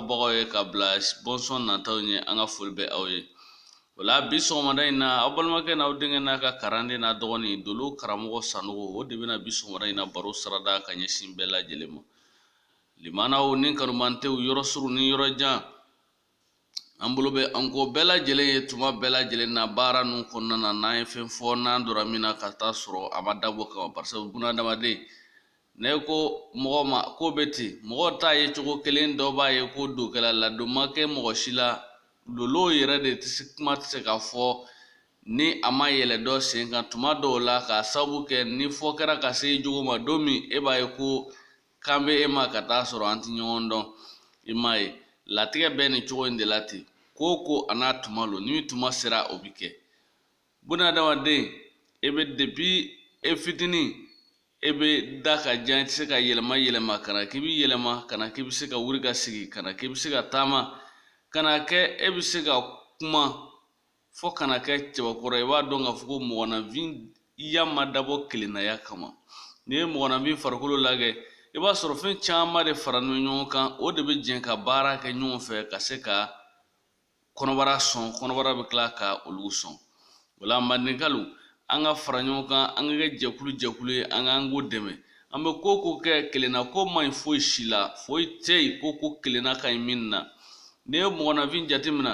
bagaw ye ka bila bɔnsɔn nataw ɲɛ an ka foli bɛ aw ye o la bi sɔgɔmada in na aw balimakɛ n'aw denkɛ n'a ka kalanden n'a dɔgɔnin dolo karamɔgɔ sanogo o de bɛna bi sɔgɔmada in na baro sarada ka ɲɛsin bɛɛ lajɛlen ma limanaw ni kanumantew yɔrɔ surun ni yɔrɔ jan an bolo bɛ an kɔ bɛɛ lajɛlen ye tuma bɛɛ lajɛlen na baara ninnu kɔnɔna na n'an ye fɛn fɔ n'an donna min na ka taa sɔrɔ a ma dabɔ kama barisa bunadamaden ne ko mɔgɔ ma ko bɛ ten mɔgɔw t'a ye cogo kelen dɔ b'a ye ko dɔ kɛla a la dɔ ma kɛ mɔgɔ si la lolo yɛrɛ de tɛ se kuma tɛ se ka fɔ ni a ma yɛlɛ dɔ sen kan tuma dɔw la k'a sababu kɛ ni fɔ kɛra ka se i jogo ma don min e b'a ye ko kan bɛ e ma ka taa sɔrɔ an tɛ ɲɔgɔn dɔn i m'a ye latigɛ bɛ nin cogo in de la ten ko o ko a n'a tuma lo ni tuma sera o bɛ kɛ bunadamaden e bɛ depi e fitinin e bɛ da ka jan i tɛ se ka yɛlɛma yɛlɛma ka na k'i bɛ yɛlɛma ka na k'i bɛ se ka wuli ka sigi ka na k'i bɛ se ka taama ka na kɛ e bɛ se ka kuma fo ka na kɛ cɛbakɔrɔ ye i b'a dɔn k'a fɔ ko mɔgɔninfinya ma dabɔ kelennaya kama n'i ye mɔgɔninfin farikolo lajɛ i b'a sɔrɔ fɛn caman de faralen ɲɔgɔn kan o de bɛ jɛ ka baara kɛ ɲɔgɔn fɛ ka se ka kɔnɔbara sɔn kɔnɔbara bɛ tila ka olu sɔn o la mandenkalu an ka fara ɲɔgɔn kan an ka kɛ jɛkulu jɛkulu ye an ka ɲɔgɔn dɛmɛ an bɛ ko o ko kɛ kelennako man ɲi foyi si la foyi tɛ yen ko ko kelenna ka ɲi min na n'i ye mɔgɔninfin jateminɛ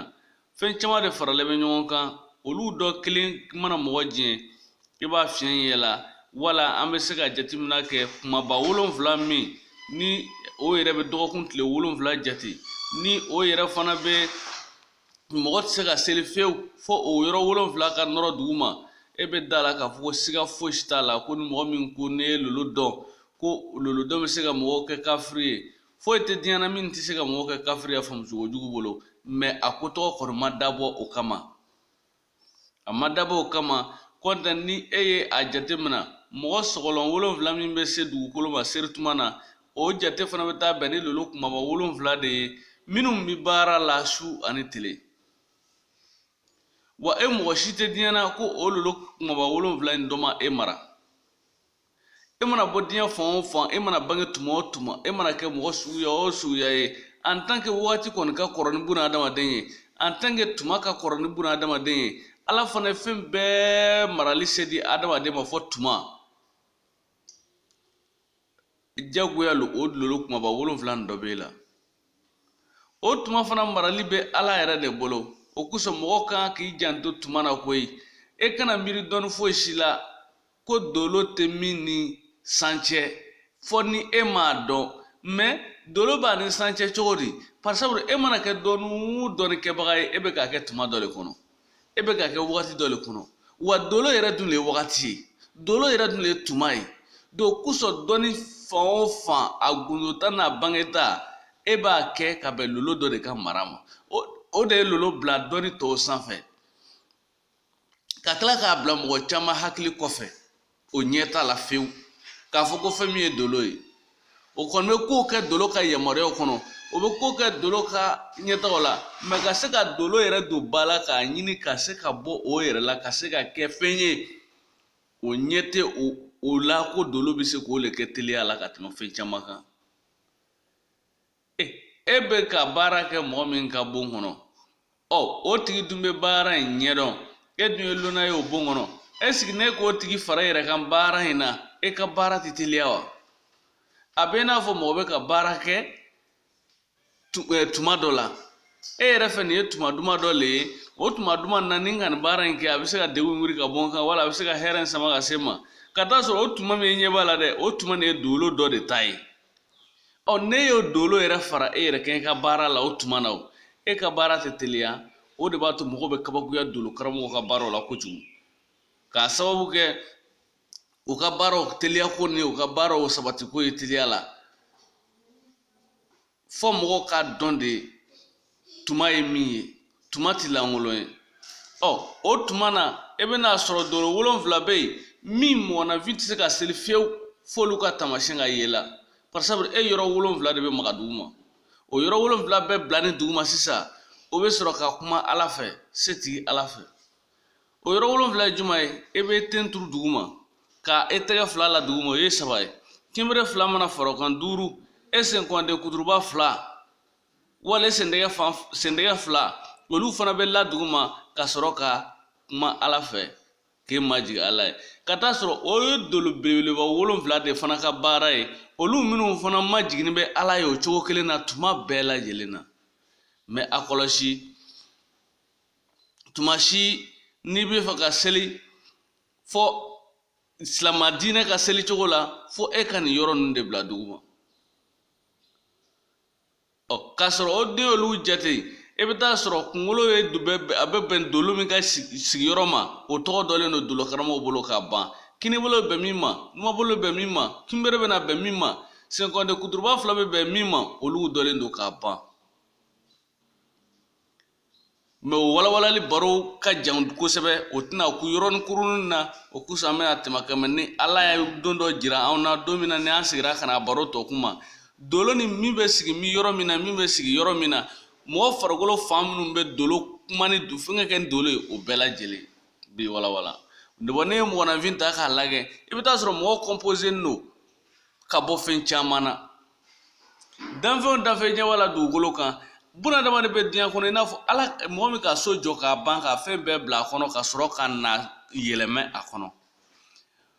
fɛn caman de faralen bɛ ɲɔgɔn kan olu dɔ kelen mana mɔgɔ diɲɛ i b'a fiɲɛ ye a la wala an bɛ se ka jateminɛ kɛ kumaba wolonfila min ni o yɛrɛ bɛ dɔgɔkun tile wolonfila jate ni o yɛrɛ fana bɛ mɔgɔ tɛ se ka seli fewu fo o yɔrɔ wolonfila ka nɔrɔ dugu ma e bɛ da la k'a fɔ ko siga fosi t'a la ko ni mɔgɔ min ko ne ye lolodɔn ko lolodɔn bɛ se ka mɔgɔw kɛ kafiri ye foyi tɛ diɲɛ na min tɛ se ka mɔgɔw kɛ kafiri ye a faamucogo jugu bolo mɛ a ko tɔgɔ kɔni ma dabɔ o kama a ma dabɔ o kama kɔntan ni e ye a jate mina mɔgɔ sɔgɔlɔn wolonfila min bɛ se dugukolo ma serituma na o jate fana bɛ taa bɛn ni lolo kumaba wolonfila de ye minnu bɛ baara la su ani tile wa e mɔgɔ si tɛ diɲɛ na ko o lolo kumaba wolonfila in dɔ ma e mara e mana bɔ diɲɛ fan o fan e mana bange tuma o tuma e mana kɛ mɔgɔ suguya o suguya ye en tant que wagati kɔni ka kɔrɔ ni buna adamaden ye en tant que tuma ka kɔrɔ ni buna adamaden ye ala fana ye fɛn bɛɛ marali se di adamaden ma fo tuma jagoya lo o lolo kumaba wolonfila nin dɔ b'e la o tuma fana marali bɛ ala yɛrɛ de bolo o kosɔn mɔgɔ ka kan k'i janto tuma na koyi e kana miiri dɔɔni foyi si la ko dolo tɛ min ni san cɛ fo ni e m'a dɔn mɛ dolo b'a ni san cɛ cogo di par exemple e mana kɛ dɔnni o dɔnni kɛbaga ye e bɛ k'a kɛ tuma dɔ de kɔnɔ e bɛ k'a kɛ wagati dɔ de kɔnɔ wa dolo yɛrɛ dun de ye wagati ye dolo yɛrɛ dun de ye tuma ye o kosɔn dɔnni fan o fan a gundota n'a bangeta e b'a kɛ ka bɛn lolo dɔ de ka mara ma o de ye lolo bila dɔnni tɔw sanfɛ ka tila k'a bila mɔgɔ caman hakili kɔfɛ o ɲɛ t'a la fewu k'a fɔ ko fɛn min ye dolo ye o kɔni bɛ kow kɛ dolo ka yamaruyaw kɔnɔ o bɛ ko kɛ dolo ka ɲɛtagaw la mɛ ka se ka dolo yɛrɛ don ba la k'a ɲini ka se ka bɔ o yɛrɛ la ka se ka kɛ fɛn ye o ɲɛ tɛ o la ko dolo bɛ se k'o le kɛ teliya la ka tɛmɛ fɛn caman kan e bɛ ka baara kɛ mɔgɔ min ka bon kɔnɔ ɔ o tigi dun bɛ baara in ɲɛdɔn e dun ye lonan ye o bon kɔnɔ ɛseke n'e k'o tigi fara e yɛrɛ kan baara in na e ka baara tɛ teliya wa a bɛ n'a fɔ mɔgɔ bɛ ka baara kɛ tuma dɔ la e yɛrɛ fɛ nin ye tuma duman dɔ le ye o tuma duman na ni n ka nin baara in kɛ a bɛ se ka degun wuli ka bɔ n kan wala a bɛ se ka hɛrɛ in sama ka se n ma ka t'a sɔrɔ o tuma min e ɲɛ b'a la dɛ o tuma nin ye dolo dɔ de ta ye ɔ n'e y'o dolo yɛrɛ fara e yɛrɛ kan e ka baara la o tuma na o e ka baara tɛ teliya o de b'a to mɔgɔw bɛ kabakoya dolo karamɔgɔ ka baaraw la kojugu k'a sababu kɛ u ka baaraw teliya ko ni u ka baaraw sabati ko ye teliya la fo mɔgɔw k'a dɔn de tuma ye min ye tuma ti lankolon ye ɔ o tuma na e bɛn'a sɔrɔ dolo wolonfila bɛ yen min mɔgɔninfin tɛ se ka seli fewu f'olu ka taamasiyɛn ka ye e la par exemple e yɔrɔ wolonfila de bɛ maga dugu ma o yɔrɔ wolonfila bɛɛ bilalen dugu ma sisan o bɛ sɔrɔ ka kuma ala fɛ se tigi ala fɛ o yɔrɔ wolonfila ye juman ye e b'e ten turu dugu ma ka e tɛgɛ fila la dugu ma o ye saba ye kinbere fila mana fara o kan duuru e senkɔnden kuturuba fila wala e sen tɛgɛ fan sen tɛgɛ fila olu fana bɛ la duguma ka sɔrɔ ka kuma ala fɛ k'e majigin ala ye ka t'a sɔrɔ o ye dolo belebeleba wolonfila de fana ka baara ye olu minnu fana majiginnen bɛ ala ye o cogo kelen na tuma bɛɛ lajɛlen na mɛ a kɔlɔsi tuma si n'i bɛ fɛ ka seli fɔ silamɛ diinɛ ka seli cogo la fo e ka nin yɔrɔ ninnu de bila duguma ɔ k'a sɔrɔ o de n'i y'olu jate i bɛ t'a sɔrɔ kunkolo ye a bɛ bɛn dolo min ka sigiyɔrɔ ma o tɔgɔ dɔnnen don dolokaramɔgɔw bolo kaban kinibolo bɛn min ma numanbolo bɛn min ma kinbere bɛna bɛn min ma senkɔnden kuturuba fila bɛ bɛn min ma olu dɔnnen don kaban mɛ o walawalali baro ka jan kosɛbɛ o tɛna kun yɔrɔnin kurunin na o kosɔn an bɛna tɛmɛ a kan mɛ ni ala ye don dɔ jira anw na don min na ni an sigira ka na baro tɔ kuma dolo ni min bɛ sigi min yɔrɔ min na min bɛ sigi yɔrɔ min na mɔgɔ farikolo fan minnu bɛ dolo kuma ni fɛngɛ kɛ ni dolo ye o bɛɛ lajɛlen bɛ walawala bon n'i ye mɔgɔninfin ta k'a lajɛ i bɛ taa sɔrɔ mɔgɔ kɔnpozelen don ka bɔ fɛn caman na danfɛnw danfɛn ɲɛ wala dugukolo kan bunadamaden bɛ diɲɛ kɔnɔ i n'a fɔ mɔgɔ min ka so jɔ k'a ban ka fɛn bɛɛ bila a kɔnɔ ka sɔrɔ ka na yɛlɛmɛ a kɔnɔ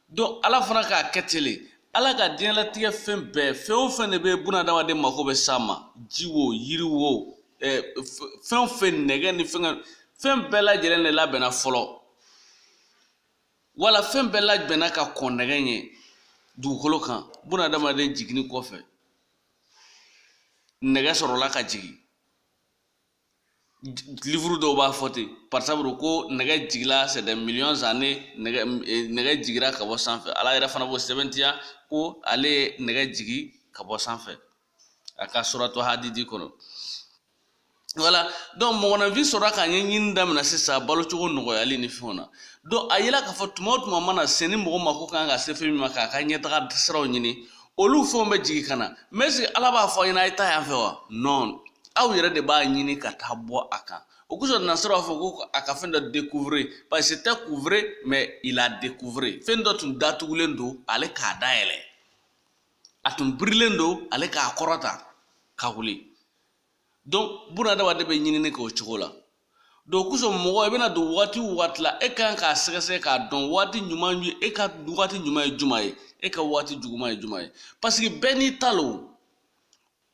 donc ala fana k'a kɛ ten le ala ka diɲɛlatigɛ fɛn bɛɛ fɛn o fɛn de bɛ bunadamaden mako bɛ s'a ma ji wo yiri wo eh, fɛn o fɛn nɛgɛ ni fɛn fɛn bɛɛ lajɛlen de labɛnna fɔlɔ wala fɛn bɛɛ labɛnna ka kɔn nɛgɛ ɲɛ dugukolo kan bunadamaden jiginni kɔfɛ nɛgɛ sɔrɔla ka jigin livuru dɔw b'a fɔ ten par exemple ko nɛgɛ jigila c'est des millions années nɛgɛ eh, nɛgɛ jigira ka bɔ sanfɛ ala yɛrɛ fana b'o sɛbɛntiya ko ale ye nɛgɛ jigi ka bɔ sanfɛ a ka suratu hadidi kɔnɔ wala donc mɔgɔninfin sɔrɔla k'a ɲɛɲini daminɛ sisan balocogo nɔgɔyali ni fɛnw na donc a yela k'a fɔ tuma o tuma mana se ni mɔgɔ mako kan ka se fɛn min ma k'a ka ɲɛtaga siraw ɲini olu fɛnw bɛ jigin ka na mɛ est-ce que ala b'a fɔ aw ɲɛna a ye taa yan fɛ wa non aw yɛrɛ de b'a ɲini ka taa bɔ a kan o kosɔn nasara b'a fɔ ko a ka fɛn dɔ découvrir parce que tɛ couvrir mais il a découvrir fɛn dɔ tun datugulen don ale k'a dayɛlɛ a tun birilen don ale k'a kɔrɔta ka wuli donc bunadamaden bɛ ɲinini kɛ o cogo la donc o kosɔn mɔgɔ i bɛna don waati o waati la e kan k'a sɛgɛsɛgɛ k'a dɔn waati ɲuman ye e ka waati ɲuman ye jumɛn ye e ka waati juguman ye jumɛn ye paseke bɛɛ n'i ta lo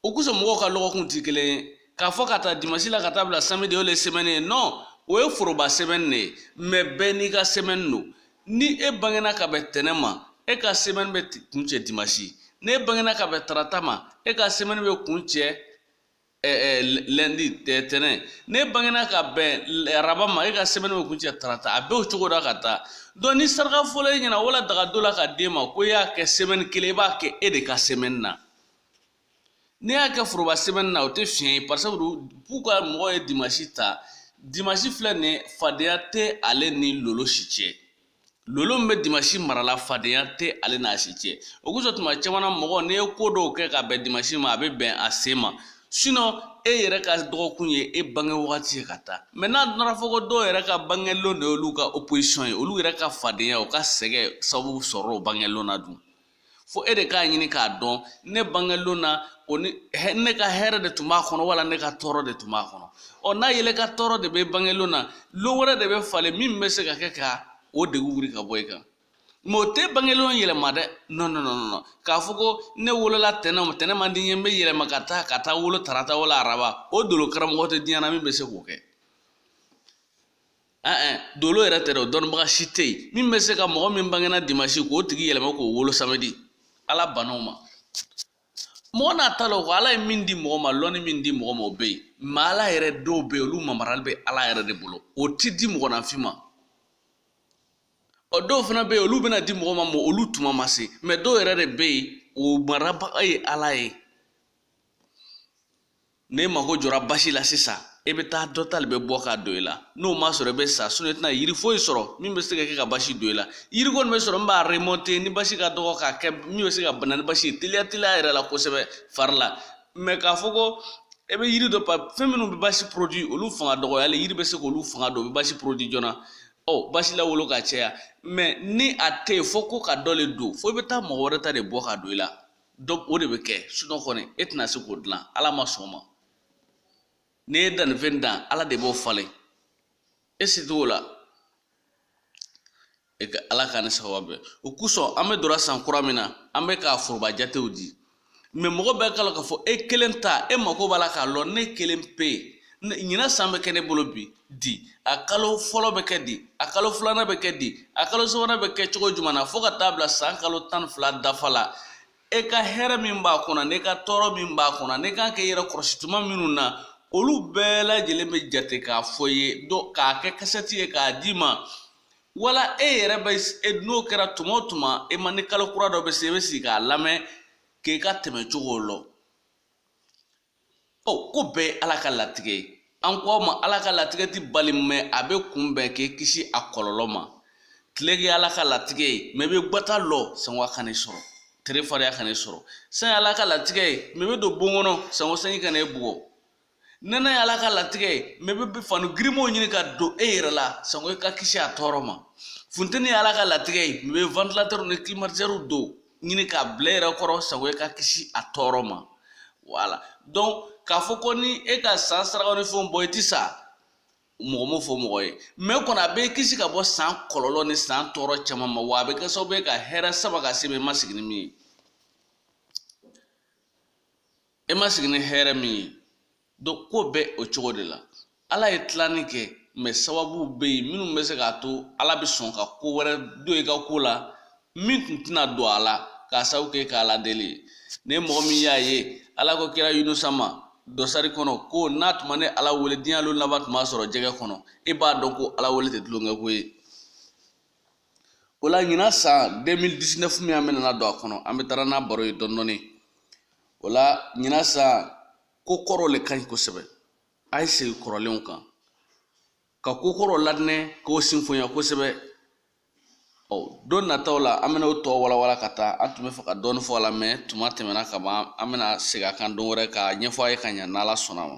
o kosɔn mɔgɔw ka lɔgɔkun tɛ kelen ye k'a fɔ ka ta dimansi la ka taa bila samedi o le sɛmɛni ye non o ye foroba sɛmɛni de ye mɛ bɛɛ n'i ka sɛmɛni don ni e bangena ka bɛn tɛnɛ ma e ka sɛmɛni bɛ kuncɛ dimasi n'e bangena ka bɛn tarata ma e ka sɛmɛni bɛ kuncɛ lɛndi tɛnɛ n'e bangena ka bɛn araba ma e ka sɛmɛni bɛ kuncɛ tarata a bɛ o cogo la ka taa donc ni saraka fɔla e ɲɛna wala daga dɔ la ka d'e ma ko e y'a kɛ sɛmɛni kelen i b'a kɛ e de ka sɛmɛni na n'i y'a kɛ foroba sɛmɛni na o tɛ fiɲɛ ye par exemple k'u ka mɔgɔ ye dimasi ta dimasi filɛ nin ye fadenya tɛ ale ni lolo si cɛ lolo min bɛ dimasi mara la fadenya tɛ ale n'a si cɛ o kosɔn tuma caman na mɔgɔ n'i ye ko dɔw kɛ ka bɛn dimasi ma a bɛ bɛn a sen ma e yɛrɛ ka dɔgɔkun ye e bange wagati ye ka taa mɛ n'a nana fɔ ko dɔw yɛrɛ ka bangelon de y'olu ka oposisɔn ye olu yɛrɛ ka fadenya u ka sɛgɛn sababu sɔrɔ o bangelon na dun fo e de k'a ɲini k'a dɔn ne bangelon na o ni ne ka hɛrɛ de tun b'a kɔnɔ wala ne ka tɔɔrɔ de tun b'a kɔnɔ ɔ n'a ye ile ka tɔɔrɔ de bɛ bangelon na lon wɛrɛ de bɛ falen min bɛ se ka kɛ ka o degun wuli ka bɔ i kan mɛ o tɛ bangelon yɛlɛma dɛ non non non non k'a fɔ ko ne wolola tɛnɛn ma tɛnɛn man di n ye n bɛ yɛlɛma ka taa ka taa wolo tarata wala araba o dolo karamɔgɔ tɛ diɲɛ na min bɛ se k'o kɛ dolo yɛrɛ tɛ dɛ o dɔnnibaga si tɛ yen min bɛ se ka mɔgɔ min bangena dimasi k'o tigi yɛlɛma k'o wolo samedi ala banna o ma mɔgɔ n'a ta la o ko ala ye min di mɔgɔ ma lɔnni min di mɔgɔ ma o bɛ yen mɛ ala yɛrɛ dɔw bɛ yen olu marali bɛ ala yɛrɛ de bolo o ti di mɔgɔninfin ma ɔ dɔw fana bɛ yen olu bɛna di mɔgɔ ma mɛ olu tuma ma se mɛ dɔw yɛrɛ de bɛ yen o marabaga ye ala ye n'e mago jɔra basi la sisan e bɛ taa dɔ ta de bɛ bɔ k'a don i la n'o ma sɔrɔ i bɛ sa sinɔn i tɛna yiri foyi sɔrɔ min bɛ se ka kɛ ka basi don i la yiri kɔni bɛ sɔrɔ min b'a remonte ni basi ka dɔgɔ k'a kɛ min bɛ se ka bana ni basi ye teliya teliya yɛrɛ la kosɛbɛ fari la mɛ k'a fɔ ko e bɛ yiri dɔ pa fɛn minnu bɛ basi porodi olu fanga dɔgɔyalen yiri bɛ se k'olu fanga don o bɛ basi porodi joona ɔ basi lawolo ka caya mɛ ni a tɛ yen fo ko ka dɔ le don fo i bɛ taa mɔgɔ wɛrɛ ta de bɔ ka don i la donc o de bɛ kɛ sinɔn kɔni e tɛna se k'o dilan ala ma sɔn o ma n'i ye dannifɛn dan ala de b'o falen e se t'o la e ka ala k'an ni sababu bɛn o kosɔn an bɛ donna san kura min na an bɛ k'a foroba jatew di mɛ mɔgɔ bɛɛ k'a lɔn k'a fɔ e kelen ta e mako b'a la k'a lɔn ne kelen pe ɲinan san bɛ kɛ ne bolo bi di a kalo fɔlɔ bɛ kɛ di a kalo filanan bɛ kɛ di a kalo sabanan bɛ kɛ cogo jumɛn na fo ka taa bila san kalo tan ni fila dafa la e ka hɛrɛ min b'a kɔnɔ n'i ka tɔɔrɔ min b'a kɔnɔ n'i kan k'i yɛrɛ kɔlɔsi tuma minnu na olu bɛɛ lajɛlen bɛ jate k'a fɔ i ye k'a kɛ kasɛti ye k'a d'i ma wala e yɛrɛ bɛ e n'o kɛra tuma o tuma e ma ni kalo kura dɔ bɛ se i bɛ sigi k'a lamɛn k'i ka tɛmɛ cogo lɔn ɔ ko bɛɛ ye ala ka latigɛ ye an ko aw ma ala ka latigɛ ti bali mɛ a bɛ kunbɛn k'e kisi a kɔlɔlɔ ma tile ye ala ka latigɛ ye mɛ i bɛ gbata lɔ sango a kan'e sɔrɔ tere fariya kan'e sɔrɔ san ye ala ka latigɛ ye mɛ i bɛ don bon kɔnɔ sango sanji kan'e bugɔ nɛnɛ ye ala ka latigɛ ye mɛ i bɛ fani girinmanw ɲini ka don e yɛrɛ la sango i ka kisi a tɔɔrɔ ma funteni ye ala ka latigɛ ye mɛ i bɛ ventilatɛriw ni kilimatizɛriw dɔ ɲini k'a bila i yɛrɛ kɔrɔ sango e ka kisi a tɔɔrɔ ma wala don k'a fɔ ko ni e ka san sarakaw ni fɛnw bɔ i ti sa mɔgɔ m'o fɔ mɔgɔ ye mɛ kɔni a b'e kisi ka bɔ san kɔlɔlɔ ni san tɔɔrɔ caman ma wa a bɛ kɛ sababu ye ka hɛrɛ sama ka se i ma e ma sigi ni min ye e ma sigi ni hɛrɛ min ye don ko bɛ o cogo de la ala ye tilanni kɛ mɛ sababuw bɛ yen minnu bɛ se k'a to ala bɛ sɔn ka ko wɛrɛ don i ka ko la min tun tɛna don a la k'a sabu kɛ i k'ala deli ye ni mɔgɔ min y'a ye ala ko kira yunusa ma dɔsari kɔnɔ ko n'a tun ma ne ala wele diɲɛ lon laban tun b'a sɔrɔ jɛgɛ kɔnɔ e b'a dɔn ko ala wele tɛ tulonkɛ ko ye o la ɲinan san 2019 min an bɛna don a kɔnɔ an bɛ taara n'a baro ye dɔɔnin dɔɔnin o la ɲinan san ko kɔrɔ le ka ɲi kosɛbɛ a ye segin kɔrɔlenw kan ka ko kɔrɔ ladinɛ k'o sinfonya kosɛbɛ ɔ don nataw la an bɛna o tɔ walawala ka taa an tun bɛ fɛ ka dɔɔni fɔ a la mɛ tuma tɛmɛna ka ban an bɛna segin a kan don wɛrɛ k'a ɲɛfɔ a ye ka ɲa n'ala sɔnna ma